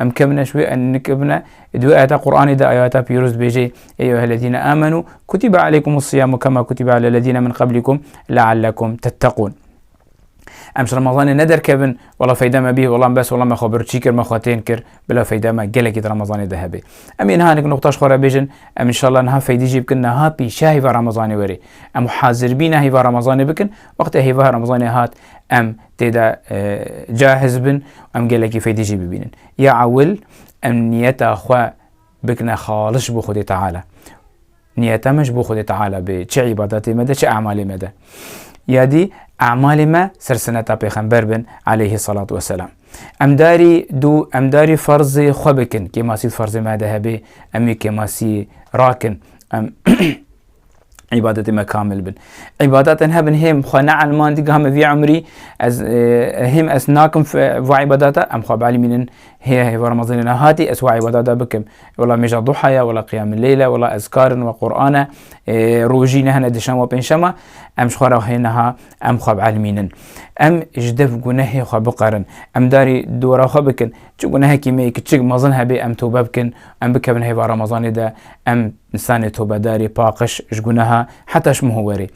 Em kevine ji wê em nikevine. Di wê ayeta Qur'anê de ayeta pîroz dibêje ey eyyuhellezîne âmenû kutibe aleykumûs-sîyâmû kemâ kutibe alellezîne min qablîkum leallekum tetteqûn. Em ji Remezanê ne derkevin wela feyda me bî, wela bes, wela me xwe birçî kir, me xwe tên kir, bila feyda me gelekî di Remezanê de hebe. Em ê niha hinek nuqta ji xwe re bêjin, em înşallah niha feydî jî bikin niha pîşa hêva Remezanê were. Em hazir bîne hêva Remezanê bikin, wextê hêva Remezanê hat em Tê de cahiz bin û em gelekî feydê jî bibînin. Ya ewil em niyeta xwe bikine xalis bo Xwedê Teala. Niyeta me ji bo Xwedê Teala bê çi îbadetê me de çi emalê me de. Ya dî emalê me ser sineta pêxember bin aleyhî selat weselam. Em darî dû em darî ferzê xwe bikin kêmasî di ferzê me de hebê em ê kêmasî rakin. Em îbadetê me kamil bin. Îbadetên hebin hêm xwe neelmandî giha me vî umrî ez hêm ez nakim va îbadeta em xwe belî mînin hê hêva Ramazanê nehatî ez wa îbadeta bikim. Wela mêja duha ye, wela qiyamil leyl e, wela ezkarin we Qur'an e, rojî ne hene dişem we pênşema em ji xwe re hê neha em xwe bielmînin. Em ji dev gunehê xwe biqerin. Em darî dora xwe bikin. Çi gunehekî me yê kiçik mezin hebê em tewbe bikin, em bikevin hêva Ramazanê de em Nisanê tobedarê paqij ji guneha heta ji muhu were.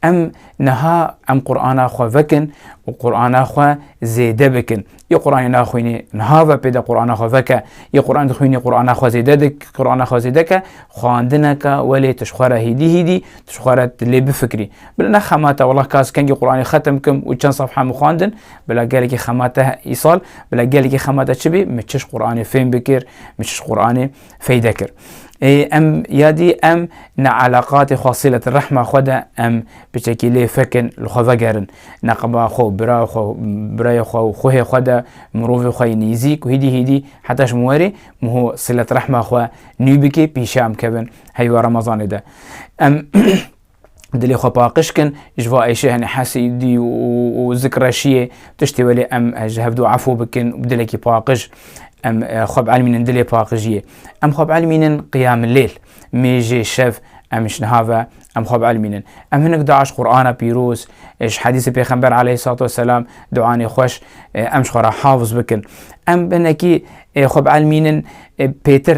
Em niha em Qur'ana xwe vekin û Qur'ana xwe zêde bikin. Yê Qur'anê naxwînî niha ve pê de Qur'ana xwe veke. Yê Qur'an dixwînî Qur'ana xwe zêde dik Qur'ana xwe zêde ke xwendineke welê tu ji xwe re hîdî hîdî tu ji xwe re lê bifikrî. Bila ne xemate wela kas kengî Qur'anê xetim kim û çend safha min xwendin bila gelekî xemate îsal bila gelekî xemate çi bî min çi ji Qur'anê fêm bikir min çi ji Qur'anê feyde kir. Ê em yadî em ne eleqatê xwe sîlete rehma xwe de em biçekî lê fekin li xwe vegerin. Neqeba xwe û bira xwe birayê xwe û xwehê xwe de mirovê xwe yê nêzîk û hîdî hîdî heta ji min werê miho sîlet rehma xwe nû bikê pîşe em kevin heywa remezanê de. Em dilê xwe paqij kin ji va êşê henê hesidî û zikreşiyê tiştê welê em ji hev du efû bikin bi dilekî paqij em xwe bielmînin dilê paqijiyê em xwe bielmînin qiyamilêl mêjê şev em ji niha ve em xwe bielmînin em hinek daş qurana pîroz ji hedîsê pêxember aleyh sat weselam duanê xweş em ji xwe re hafiz bikin em binekî xwe bielmînin pêtir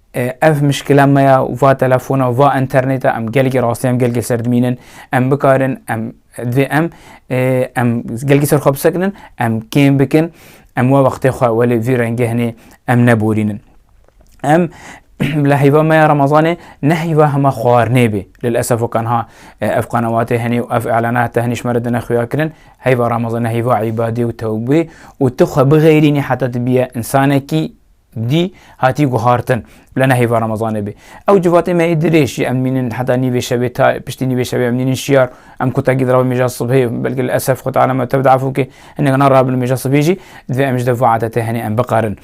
Ev mişkila me ya û va telefona û va înternêta em gelekî rastî em gelekî ser dimînin. Em bikarin em divê em em gelekî ser xwe bisekinin, em kêm bikin, em wa wextê xwe welê vî rengehnê em neborînin. Em bila heyva me ya Ramazanê ne heyva hema xwarinê bê. Lil esef û kanha ev qenewatê henê û ev îlana heta henî ji me re dine xuya kirin. Heyva Ramazanê heyva îbadê û tewbê û tu xwe bixêrînî heta tu bîye însanekî dî hatî guhartin bila nehêva remezanê bê. Ew civatê me ê dirêj jî em mînin heta nîvê şevê ta piştî nîvê şevê em nînin şiyar em kutakî dirav mêja sibhê belkî li esef xwe teala me tevd efû kê hinek narabin mêja sibhê jî divê em ji dev vê adetê henê em bikarin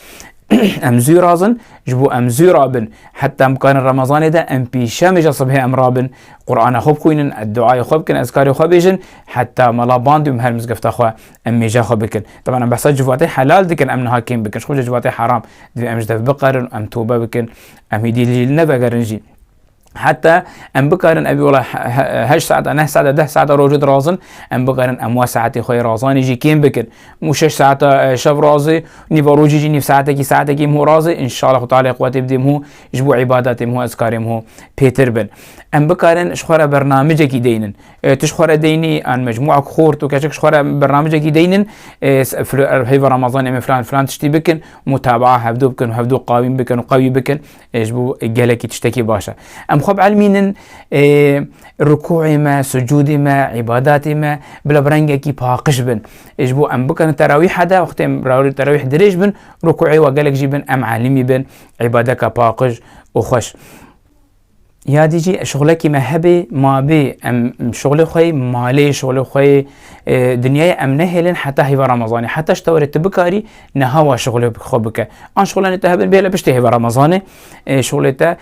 em zû razin ji bo em zû rabin heta em bikarin remezanê de em pîşe mêja sibhê em rabin qurana xwe bixwînin duayê xwe bikin ezkarê xwe bêjin heta mela bandî û her mizgefta xwe Em mêja xwe bikin. Teban em behsa civatê helal dikin, em niha kêm bikin. Ji xwe ji civatê heram. Divê em ji dev biqerin û em tobe bikin. Em hêdî li jî nevegerin jî. Heta em bikarin evî wala heşt saeta, neh saeta, deh saeta rojê dirazin, em bikarin em wa saetê xwe yê razanê jî kêm bikin. Mû şeş saeta şev razê, nîva rojê jî nîv saetekî, saetekî mû razê, înşala xwe tealeyê quwetê bidê mû ji bo îbadetê mû ez karê mû pêtir bin. Em bikarin ji xwe re bernamicekî deynin. Ti ji xwe re deynî an mecmûa ku xwe û tu keçik ji xwe re bi ramcekî deynin heyva Ramazanê me filan filan tiştî bikin mutabaa hevdu bikin û hevdu qawîm bikin û qewî bikin ji bo gelekî tiştekî baş e. Em xwe bi elmînin rikûê me, sucûdê me, îbadatê me bila bi rengekî paqij bin. Ji bo em bikarin terawîha de wextê em terawîh dirêj bin rikûê we gelek jî bin em elîmî bin îbadeka paqij û xweş. Yadî jî şixulekî me hebê mabê em şixulê xwe malê şixulê xwe dinyayê em nehêlin heta hêva Ramazanê heta ji tewerê tu bikarî neha wa şixulê xwe bike an şixulanê te hebin bêle piştê hêva Ramazanê şixulê te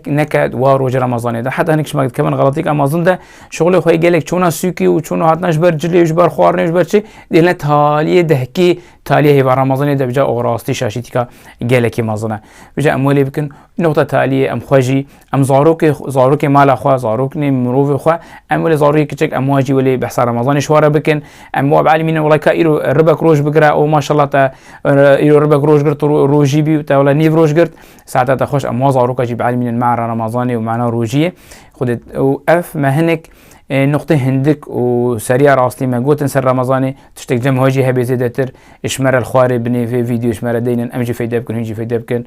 neke wa rojê Ramazanê de heta hinek ji me dikevin xelatîk Amazon de şixulê xwe gelek çûna sûkî û çûna hatina ji ber cilê ji ber xwarinê ji ber çi dêlne taliyê dehkî taliyê hêva Ramazanê de bija orastî şaşîtîka gelekî mezin e bija em welê bikin Noqta taliyê em xwe jî, em zarokê, zarokê mala xwe, zarok nê mirovê xwe, em welê zarokê kiçik em wa jî welê behsa Remezanê ji ware bikin. Em wa bielîmî ne welay ka îro ribek roj bigire û maşallah te îro ribek roj girt û rojî bî û te welay nêv roj girt. Saeta te xweş em wa zaroka jî bielîmînin mana Remezanê û mana rojiyê. Xwedê û ev me hinek noqtê hindik û seriya rastî me gotin ser Remezanê tiştek cem xwe jî hebe zêdetir ji me re li xwarê binê vê vîdeoyê ji me re deynin em jî feyde bikin hûn jî feyde bikin.